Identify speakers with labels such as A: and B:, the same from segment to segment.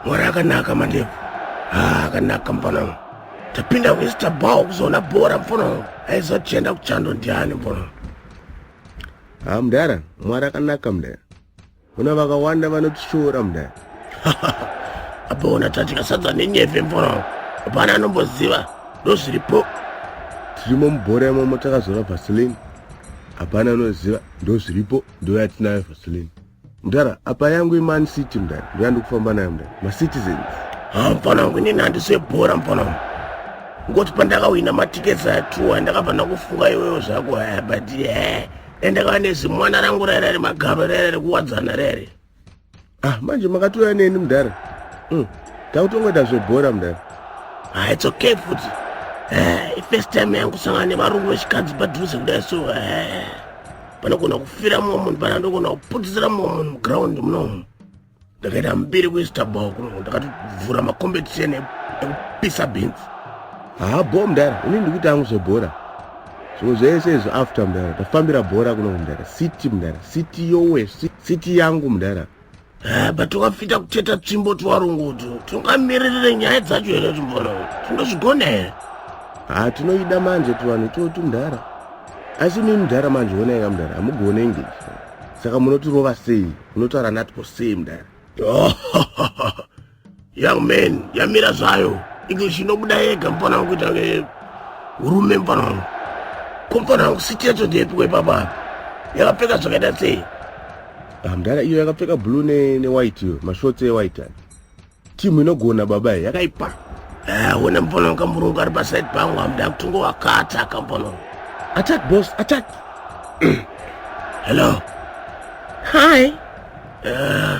A: mwari akanaka mandevu ah, akanaka mfana wangu tapinda kuista bao kuzoona bhora mfana wangu aizotienda kuchando ndiani mfana wangu ha ah, mdara
B: mwari akanaka mdara kuna vakawanda vanotishoora mdara
A: apaona tatika sadza nenyeve mfana wangu hapana anomboziva ndozviripo tirimo
B: mubhora imomo takazora vasilini hapana anoziva ndozviripo ndoyatinayo vaseline mdara apa yangu iman city mdara ndoyandikufamba nayo mdara macitizens ha mfana wangu
A: inini handisebhora mfana wangu ngoti pandakawina matikets atuwa ndakabva ndakufunga iwewo zvako haya but he eh, dai ndakava nezimwana rangu raira remagaro raira rekuwadzana rere ah manje
B: makatouya neni mudhara mm. takutongoita zvebhora mudhara ah, it's okay
A: futi eh, ifirst time yangu sangana nevarungu vechikadzi padhuze kudai so eh, panogona kufira mumwe munhu pana ndogona kuputisira mumwe munhu muground munomu ndakaita mbiri kuistabao kuno ndakatovhura macompetition ekupisa bhinzi haa ah, bo
B: mudhara ini ndikuita angu zvebhora so zvese izvi after mudhara tafambira bhora kuno mudhara city mudhara city yowe city yangu mudhara eh, but
A: wakafita kuteta tsvimbo twarongoto tungamiririre nyaya dzacho here timbora tingazvigona here ha tinoida
B: manje tuvanhu totu mudhara asi mii mudhara manje onaika mudhara hamugone english saka munotirova sei munotaura natwo sei mudhara
A: Young man, yamira zvayo. English inobuda yega mfana wangu kuita urume mfana wangu. Ko mfana wangu siti yacho ndeyepiko ipapa? Yakapfeka zvakaita sei? Ah, mdara
B: iyo yakapfeka blue ne, ne white iyo, mashorts e white. Timu inogona baba yakaipa. Eh, wena
A: mfana wangu kamurungu ari paside pangu amda kutungo wakata kamfana wangu. Attack boss,
B: attack. Hello.
A: Hi.
C: Uh,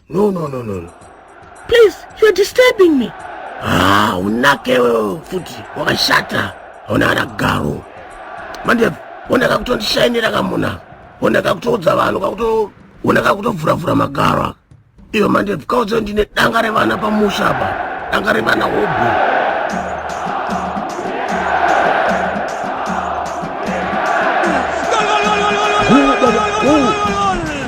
A: No, no, no, no. Please,
C: you're disturbing me. Ah, unake
A: wewe futi wakashata. Ona ana garu. Manje ona kakutondishainira kamuna. Ona kakutoudza vanhu kakuto ona kakutovhura vhura magaro. Iyo manje kaudza ndine danga revana pamusha apa. Danga revana hobo.